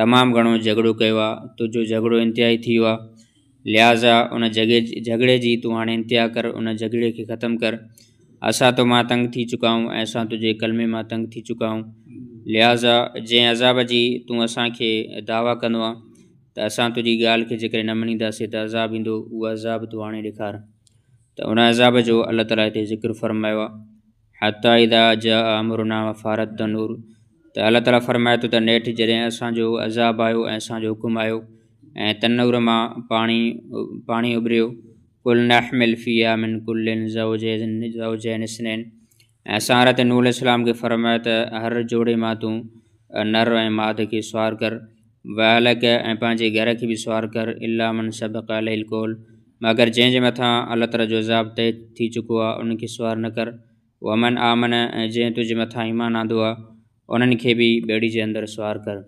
تمام گهڻو جهڳڙو ڪيو آ تنهنجو جهڳڙو انتهائي ٿي ويو آ لهٰذا ان جڳي جهڳڙي جي تون هاڻي انتها ڪر ان جهڳڙي کي ختم ڪر اسان تو مان تنگ ٿي چڪا آهيون ۽ اسان تنهنجي ڪلمي مان تنگ ٿي چڪا آهيون لهٰذا جنهن عذاب جي تون اسان کي دعويٰ ڪندو آ ته اسان تنهنجي ڳالهه کي جيڪڏهن نه مڃينداسين ته عذاب ايندو اهو عذاب تو هاڻي ڏيکار ته ان عذاب جو الله تعاليٰ هتي ذڪر فرمايو آ حتٰي اذا جاء امرنا وفارت التنور ته الله تعاليٰ فرمائي ٿو ته نيٺ جڏهن اسان جو عذاب آيو ۽ اسان جو حڪم آيو ۽ تنور مان پاڻي پاڻي اڀريو قل نحمل فيها من كل زوجين زوجين اثنين ۽ اسان حضرت نور السلام کي فرمايو ته هر جوڙي مان تون نر ۽ ماد کي سوار ڪر واهلڪ ۽ پنهنجي گهر کي به سوار ڪر الا من سبق عليه القول مگر جنهن جي مٿان الله تعاليٰ جو عذاب طئي ٿي چڪو آهي انهن کي سوار نه ڪر ومن آمن ۽ جنهن تنهنجي مٿان ايمان آندو آهي انهن کي به ٻيڙي جي اندر سوار ڪر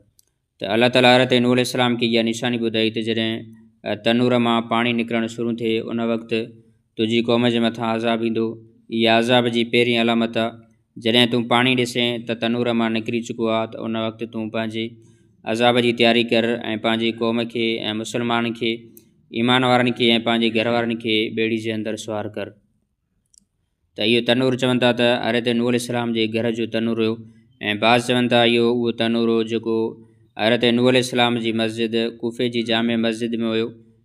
ته الله تعاليٰ حضرت نوح عليه السلام کي اها نشاني ٻڌائي ته جڏهن تنور مان پاڻي نڪرڻ شروع ٿئي ان وقت تنهنجي قوم جي مٿان عذاب ايندو. اها عذاب جي پهرين علامت آهي. جڏهن تون پاڻي ڏسين ته تنور مان نڪري چڪو آهي ته ان وقت تون پنهنجي عذاب جي تياري ڪر ۽ پنهنجي قوم کي ۽ مسلمانن کي، ايمان وارن کي ۽ پنهنجي گهر وارن کي ٻيڙي جي اندر سوار ڪر. ته اهو تنور چون ٿا ته حضرت نوح عليه السلام جي گهر جو تنور هيو ۽ بعض چون ٿا اهو اهو تنور هو جيڪو حضرت نوح عليه السلام جي مسجد ڪوفي جي جامع مسجد ۾ هيو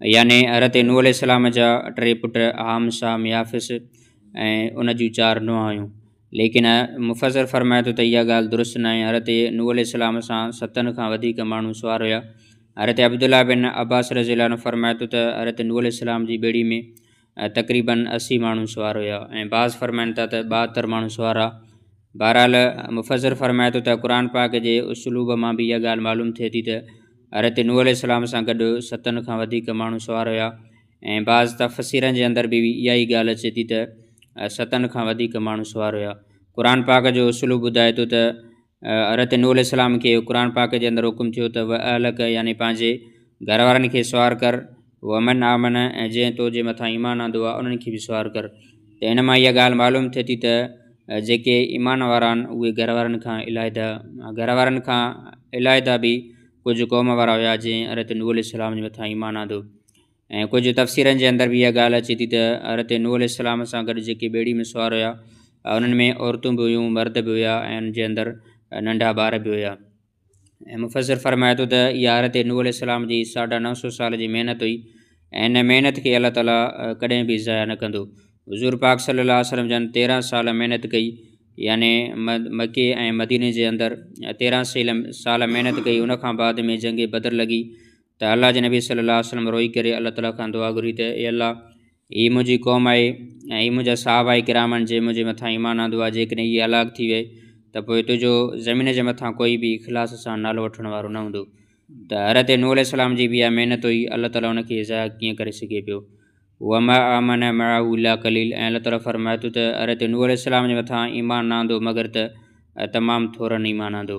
يعني حضرت نوح عليه السلام جا ٽي پٽ حام سام يافس ۽ ان جون چار نونهان هيون ليڪن مفسر فرمائي ٿو ته اها ڳالهه درست ناهي حضرت نوح عليه السلام سان ستن کان وڌيڪ ماڻهو سوار هيا حضرت عبدالله بن عباس رضي الله عنه فرمائي ٿو ته حضرت نوح عليه السلام جي ٻيڙي ۾ ۽ تقريباً اسي ماڻهو سوار هيا ۽ بعض فرمائن ٿا ته ٻاهتر ماڻهو سوار هئا بهرحال مفسر فرمائي ٿو ته قرآن پاڪ جي اسلوب مان به اها ڳالهه معلوم ٿئي ٿي ته حضرت نوح عليه السلام سان گڏ ستن کان وڌيڪ ماڻهو سوار هيا ۽ بعض تفسيرن جي اندر به اها ئي ڳالهه اچي ٿي ته ستن کان وڌيڪ ماڻهو سوار هيا قرآن پاڪ جو اصولو ٻڌائي ٿو ته حضرت نوح عليه السلام کي قرآن پاڪ جي اندر حڪم ٿيو ته و اهلڪ يعني پنهنجي گهر وارن کي سوار ڪر ومن آمن ۽ جنهن تو جي مٿان ايمان آندو آ انهن کي به سوار ڪر ته ان مان اها ڳالهه معلوم ٿئي ٿي ته جيڪي ايمان وارا آهن اهي گهر وارن کان علائده گهر وارن کان علائده به ڪجهه قوم وارا هيا جنهن حضرت نوح عليه السلام جي مٿان ايمان آندو ۽ ڪجهه تفسيرن جي اندر به اها ڳالهه اچي ٿي ته حضرت نوح عليه السلام سان گڏ جيڪي ٻيڙي ۾ سوار هيا انهن ۾ عورتون به هيون مرد به هيا ۽ ان جي اندر ننڍا ٻار به هيا ۽ مفسر فرمائي ٿو ته اها حضرت نوح عليه السلام جي ساڍا نو سو سال جي محنت هئي ۽ ان محنت کي الله تعالیٰ ڪڏهن به ضايع نه ڪندو حضور پاڪ صلي الله وسلم جن تيرهن سال محنت ڪئي يعني مڪي ۽ مديني جي اندر تيرهن سيل سال محنت ڪئي ان کان بعد ۾ جنگ بدر لڳي ته الله جي نبي صلي الله عليه وسلم روئي ڪري الله تعاليٰ کان دعا گهري ته اي الله هي منهنجي قوم آهي ۽ هي منهنجا صحابه آهي ڪرام آهن جي منهنجي مٿان ايمان آندو آهي جيڪڏهن هي هلاڪ ٿي وئي ته پوء تنهنجو زمين جي مٿان ڪوئي به اخلاص سان نالو وٺڻ وارو نه هوندو ته حضرت نوح عليه السلام جي بيا محنت هئي الله تعاليٰ ان کي ضايع ڪيئن ڪري سگهي پيو وما آمن معه الا قليل ۽ الله تعاليٰ فرمائي ٿو ته حضرت نوح عليه السلام جي مٿان ايمان نه آندو مگر ته تمام ٿورن ايمان آندو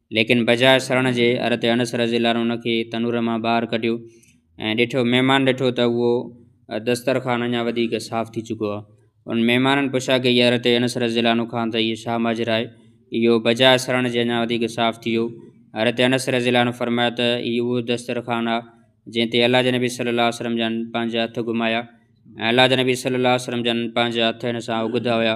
ليڪن بجاء سرڻ جي حضرت انس رضي الله عنه ان کي تنور مان ٻاهر ڪڍيو ۽ ڏٺو مهمان ڏٺو ته اهو دسترخوان اڃا وڌيڪ صاف ٿي چڪو آهي ان مهمانن پڇا ڪئي حضرت انس رضي الله عنه کان ته اهو شاهه ماجرا آهي اهو بجاء سرڻ جي اڃا وڌيڪ صاف ٿي ويو حضرت انس رضي الله عنه فرمايو ته هي اهو دسترخوان آهي جنهن تي الله جي نبي صلي الله عليه وسلم جن پنهنجا هٿ گهمايا ۽ الله جي نبي صلي الله عليه وسلم جن پنهنجا هٿ هن سان اگهدا هيا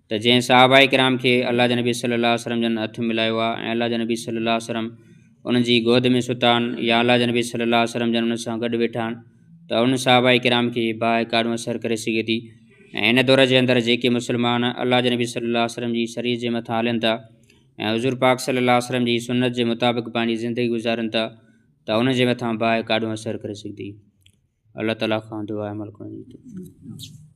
ته جنهن صحابه ڪرام کي الله جي نبي صلي الله عليه وسلم جن هٿ ملايو آهي ۽ الله جي نبي صلي الله عليه وسلم انهن جي گود ۾ ستا آهن يا الله جي نبي صلي الله عليه وسلم جن انهن سان گڏ ويٺا آهن ته انهن صحابه ڪرام کي باهه ڪاڏون اثر ڪري سگهي ٿي ۽ هن دور جي اندر جيڪي مسلمان الله جي نبي صلي الله عليه وسلم جي شريعت جي مٿان هلن ٿا ۽ حضور پاڪ صلي الله عليه وسلم جي سنت جي مطابق پنهنجي زندگي گذارن ٿا ته انهن جي مٿان باهه ڪاڏون اثر ڪري سگهي ٿي الله تعاليٰ کان دعا عمل ڪرڻ جي